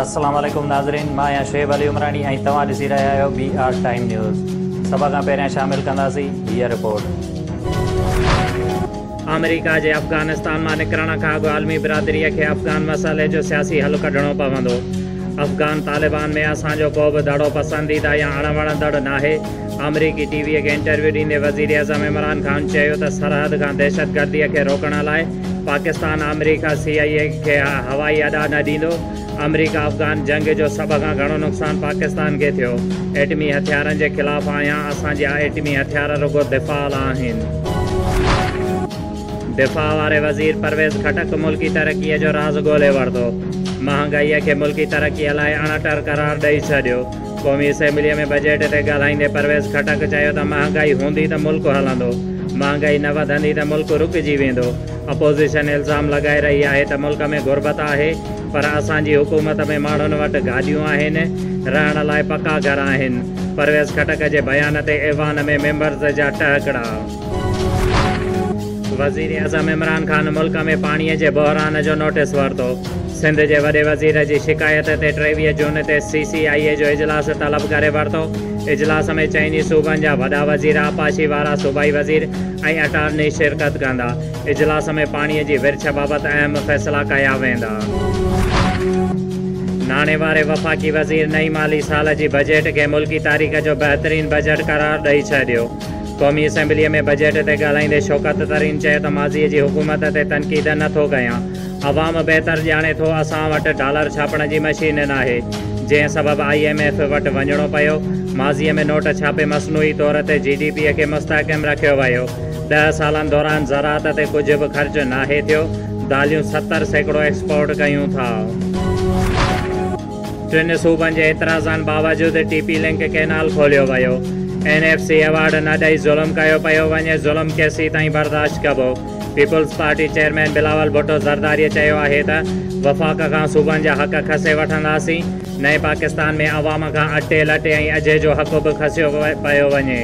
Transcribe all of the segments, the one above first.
السلام عليڪم ناظرين مان آهيان شعيب علي عمراڻي ۽ توهان ڏسي رهيا آهيو بي آر ٽائيم نيوز سڀ کان پهريان شامل ڪنداسين هيء رپورٽ آمريڪا جي افغانستان مان نڪرڻ کان اڳ عالمي برادري کي افغان مسئلي جو سياسي حل ڪڍڻو پوندو افغان طالبان ۾ اسان جو ڪو به دڙو پسنديده يا اڻ وڻندڙ ناهي آمريڪي ٽي ويء کي انٽرويو ڏيندي وزيراعظم عمران خان چيو ته سرحد کان دهشتگرديء کي روڪڻ لاء پاڪستان آمريڪا سي آء اي کي هوائي اڏا نه ڏيندو، آمريڪا افغان جنگ جو سڀ کان گهڻو نقصان پاڪستان کي ٿيو، ايٽمي هٿيارن جي خلاف آهيان، اسان جا ايٽمي هٿيار رڳو دفاع لاء آهن. دفاع واري وزير پرويز خٽڪ ملڪي ترقيء جو راز ڳولي ورتو، مهانگائيء کي ملڪي ترقيء لاء اڻٽر قرار ڏئي ڇڏيو، قومي اسيمبليء ۾ بجيٽ تي ڳالهائيندي پرويز خٽڪ چيو ته مهانگائي هوندي ته ملڪ هلندو، مهانگائي نه وڌندي ته ملڪ رڪجي ويندو، اپوزيشن الزام لڳائي رهي آهي ته ملڪ ۾ غربت آهي پر اسان جي حڪومت ۾ ماڻهن وٽ گاڏيون آهن، رهڻ لاء پڪا گهر آهن، پرويز خٽڪ جي بيان تي ايوان ۾ ميمبرز جا ٽهڪڙا. وزيراعظم عمران خان ملڪ ۾ پاڻي جي بحران جو نوٽيس ورتو، سنڌ جي وڏي وزير جي شڪايت تي ٽيويهه جون تي سي سي آء اي جو اجلاس طلب ڪري ورتو، اجلاس ۾ چئن ئي صوبن جا وڏا وزير، آبپاشي وارا صوبائي وزير ۽ اٽارني شرڪت ڪندا، اجلاس ۾ پاڻي جي ورڇ بابت اهم فيصلا ڪيا ويندا. ناڻي واري وفاقي وزير نئين مالي سال جي بجيٽ کي ملڪي تاريخ جو بهترين بجيٽ قرار ڏئي ڇڏيو. قومي اسيمبليء ۾ بجيٽ تي ڳالهائيندي شوڪت ترين چيو ته ماضي جي حڪومت تي تنقيد نه ٿو ڪيان، عوام بهتر ڄاڻي ٿو اسان وٽ ڊالر ڇاپڻ جي مشين ناهي، جنهن سبب آء ايم ايف وٽ وڃڻو پيو، ماضي ۾ نوٽ ڇاپي مصنوعي طور تي جي ڊي پي کي مستحڪم رکيو ويو، ڏهه سالن دوران زراعت تي ڪجهه به خرچ ناهي ٿيو، داليون ستر سيڪڙو ايڪسپورٽ ڪيون ٿا. ٽن صوبن جي اعتراضن باوجود ٽي پي لنڪ ڪئنال کوليو ويو، اين ايف سي ايوارڊ نه ڏئي ظلم ڪيو پيو وڃي، ظلم ڪيسين تائين برداشت ڪبو، peoples party chairman Bilawal Bhutto Zardari چيو آهي ته وفاق کان صوبن جا حق کسي وٺنداسين، نئين پاڪستان ۾ عوام کان اٽي لٽي ۽ اجهي جو حق به کسيو پيو وڃي.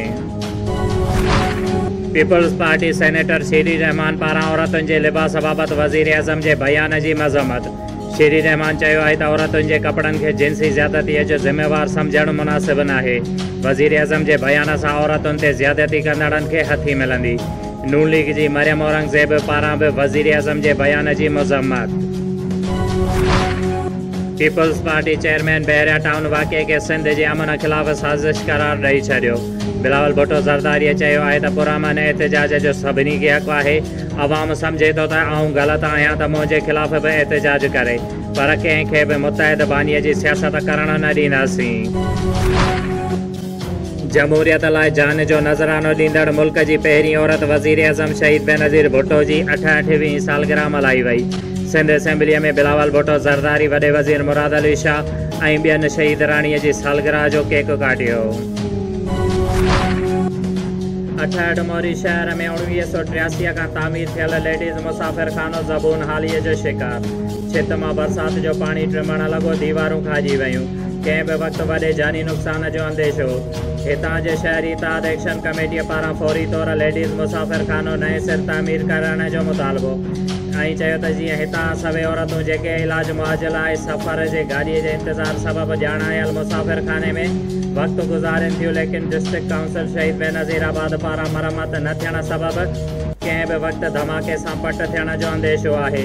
Peoples party senator Sherry Rehman پاران عورتن جي لباس بابت وزيراعظم جي بيان جي مذمت. شيري رحمان چيو آهي ته عورتن جي ڪپڙن کي جنسي زيادتيء جو ذميوار سمجهڻ مناسب ناهي، وزيراعظم جي بيان سان عورتن تي زيادتي ڪندڙن کي هٿي ملندي، نون ليگ جي مريم اورنگزيب پاران به وزيراعظم جي بيان جي مذمت. Peoples party chairman Bahria town واقعي کي سنڌ جي امن خلاف سازش قرار ڏئي ڇڏيو، بلاول ڀٽو زرداريء چيو آهي ته پرامن احتجاج جو سڀني کي حق آهي، عوام سمجهي ٿو ته آئون غلط آهيان ته منهنجي خلاف به احتجاج ڪري پر ڪنهن کي به متحد بانيء جي سياست ڪرڻ نه ڏينداسين. جمهوريت لاء جان جو نذرانو ڏيندڙ ملڪ جي پهرين عورت وزيراعظم شهيد بينظير ڀٽو جي اٺهٺ وينهين سالگرهه ملهائي وئي. سنڌ اسيمبليء ۾ بلاول ڀٽو زرداري، وڏي وزير مراد علي شاهه ۽ ٻين شهيدراڻيء جي سالگرهه جو ڪيڪ ڪاٽيو. اٺهٺ، موري شهر ۾ اوڻويهه سؤ ٽياسي کان تعمير ٿيل ليڊيز مسافر خانو زبون حاليء جو شڪار، ڇت مان برسات جو پاڻي ٽمڻ لڳو، ديوارون کاهجي ويون، ڪنهن به وقت وڏي جاني نقصان جو انديشو. هتان جي شهري اتحاد ايڪشن ڪميٽيء پاران فوري طور ليڊيز مسافر خانو نئين سر تعمير ڪرڻ جو مطالبو ۽ چيو ته جيئن هتان سوين عورتون جيڪي علاج معاجل آء سفر جي گاڏيء جي انتظار سبب ڄاڻايل مسافر خاني ۾ وقت گذارين ٿيون ليڪن ڊسٽرڪٽ ڪائونسل شهيد بينظير آباد پاران مرمت نه ٿيڻ سبب ڪنهن به وقت ڌماڪي سان پٽ ٿيڻ جو انديشو آهي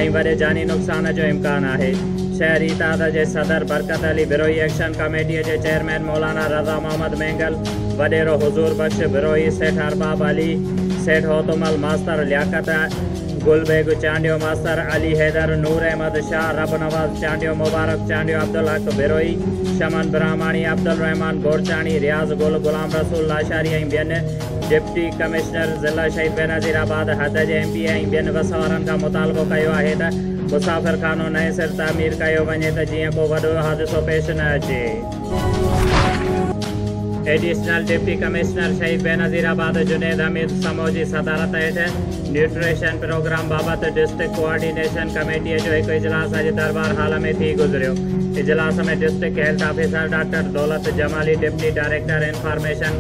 ۽ وڏي جاني نقصان جو امڪان آهي شهري اتحاد جي صدر برڪت علي بروهي ايڪشن ڪميٽي جي چيئرمين مولانا رضا محمد مينگل وڏيرو حضور بخش بروهي سيٺ ارباب علي سيٺ هوتومل ماستر لياقت گل بيگ چانڊيو، ماستر علي حيدر، نور احمد شاهه، رب نواز چانڊيو، مبارڪ چانڊيو، عبدالحق بروهي، شمن برهماڻي، عبدالرحمان بورچاڻي، رياض گل، غلام رسول لاشاري ۽ ٻين ڊپٽي ڪمشنر ضلع شهيد بينظير آباد حد جي ايم پي اي ۽ ٻين وس وارن کان مطالبو ڪيو آهي ته مسافرخانو نئين سر تعمير ڪيو وڃي ته جيئن ڪو وڏو حادثو پيش نه اچي. Additional deputy commissioner Shaheed Benazirabad Junaid Hameed Samo جي صدارت هيٺ نيوٽريشن پروگرام بابت ڊسٽرڪٽ ڪوآرڊينيشن ڪميٽي جو هڪ اجلاس اڄ دربار هال ۾ ٿي گذريو اجلاس ۾ district health officer doctor Daulat Jamali deputy director information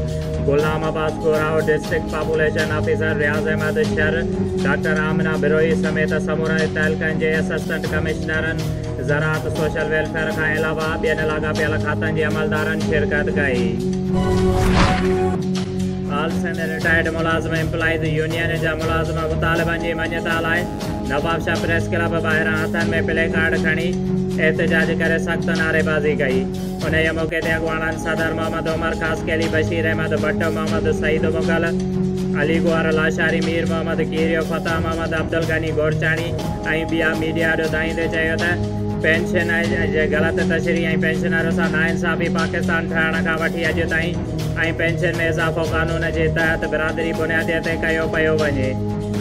Ghulam Abbas Gorahu district population officer Riaz Ahmed Shar doctor Amna Brohi سميت سمورن تعلقن جي اسسٽنٽ ڪمشنرن زراعت سوشل ويلفيئر کان علاوه ٻين لاڳاپيل کاتن جي عملدارن شرڪت ڪئي. آل سنڌ رٽائرڊ ملازم ايمپلائيز يونين جا ملازم مطالبن جي مڃتا لاء نوابشاهه پريس ڪلب ٻاهران هٿن ۾ پلي ڪارڊ کڻي احتجاج ڪري سخت نعريبازي ڪئي. انهيء موقعي تي اڳواڻن صدر محمد عمر خاصخيلي، بشير احمد ڀٽ، محمد سعيد مغل، علي گوهر لاشاري، مير محمد کيريو، فتح محمد، عبدالغني گورچاڻي، ۽ ٻيا ميڊيا جو دانهيندي چيو ته پينشن جي غلط تشريح ۽ پينشنرن سان ناانصافي پاڪستان ٺهڻ کان وٺي اڄ تائين ۽ پينشن ۾ اضافو قانون جي تحت برادري بنيادي تي ڪيو پيو وڃي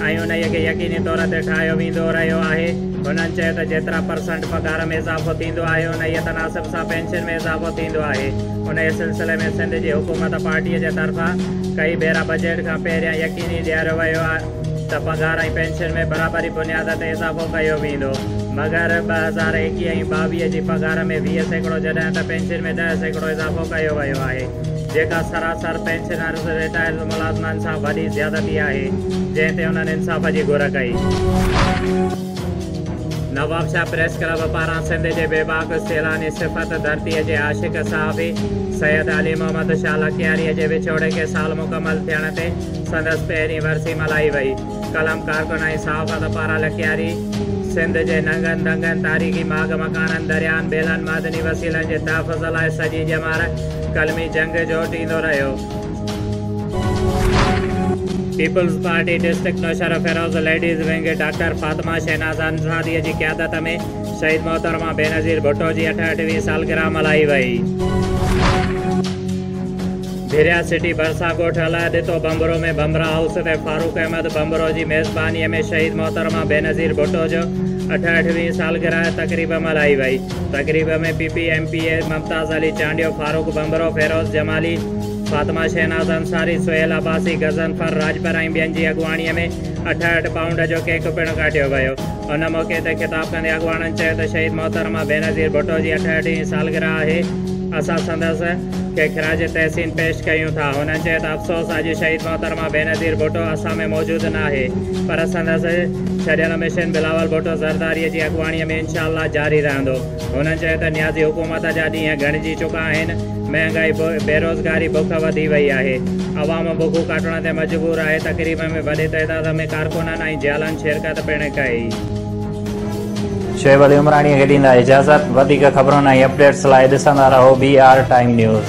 ۽ انهي کي يقيني طور تي ٺاهيو ويندو رهيو آهي هنن چيو ته جيترا پرسنٽ پگهار ۾ اضافو ٿيندو آهي انهي تناسب سان پينشن ۾ اضافو ٿيندو آهي انهي سلسلي ۾ سنڌ جي حڪومت پارٽي جي طرفان ڪئي ڀيرا بجيٽ کان پهريان يقيني ڏياريو ويو ته پگهار ۽ پينشن ۾ برابري بنياد تي اضافو ڪيو ويندو مگر ٻه هزار ايڪيهه ۽ ٻاويهه جي پگهار ۾ ويهه سيڪڙو جڏهن ته پينشن ۾ ڏهه سيڪڙو اضافو ڪيو ويو آهي جيڪا سراسر پينشنرز رٽائرڊ ملازمن سان وڏي زيادتي آهي جنهن تي انهن انصاف جي گهر ڪئي. نوابشاهه پريس ڪلب پاران سنڌ جي بيباڪ سيلاني صفت ڌرتي جي عاشق صحافي سيد علي محمد شاهه لڪياري جي وڇوڙي کي سال مڪمل ٿيڻ تي سندس پهرين ورسي ملهائي وئي. قلم ڪارڪن ۽ صحافت پاران لکياري سنڌ جي ننگن دنگن، تاريخي ماڳ مڪانن، درياهن، ٻيلن، معدني وسيلن جي تحفظ لاء سڄي ڄمار قلمي جنگ جوٽيندو رهيو. Peoples party district Naushahro Feroze ladies wing doctor Fatima Shahnaz انصاريء جي قيادت ۾ شهيد محترمه بينظير ڀٽو جي اٺهٺ وين سالگرهه ملهائي وئي. ڀيريا سٽي ڀرسان ڳوٺ الاهي ڏتو ڀنڀرو ۾ ڀنڀرا هائوس تي فاروق احمد ڀنڀرو جي ميزبانيء ۾ شهيد محترمه بينظير ڀٽو جو اٺهٺ وينهين سالگرهه تقريب ملهائي وئي. تقريب ۾ P P M P A Mumtaz Ali Chandio, Farooq Bhanbhro, Feroze Jamali, Fatima Shahnaz Ansari, Sohail Abbasi, Ghazanfar Rajpar ۽ ٻين جي اڳواڻيء ۾ اٺهٺ پائونڊ جو ڪيڪ پڻ ڪاٽيو ويو. ان موقعي تي خطاب ڪندي اڳواڻن چيو ته شهيد محترمه بينظير ڀٽو جي اٺهٺ هين سالگرهه آهي، اسان سندس. کي خراج تحسين پيش ڪيون ٿا. هن چيو ته افسوس اڄ شهيد محترمه بينظير ڀٽو اسان ۾ موجود ناهي پر سندس ڇڏيل مشن بلاول ڀٽو زرداري جي اڳواڻي ۾ انشاء الله جاري رهندو. هن چيو ته نيازي حڪومت جا ڏينهن گهڻجي چڪا آهن، مهانگائي، بيروزگاري، بک وڌي وئي آهي، عوام بکون ڪاٽڻ تي مجبور آهي، تقريب ۾ وڏي تعداد ۾ ڪارڪنن ۽ جيالن شرڪت پڻ ڪئي. شعيب علي عمراڻيء کي ڏيندا اجازت. وڌيڪ خبرن ۽ اپڊيٽس لاء ڏسندا رهو بي آر ٽائيم نيوز.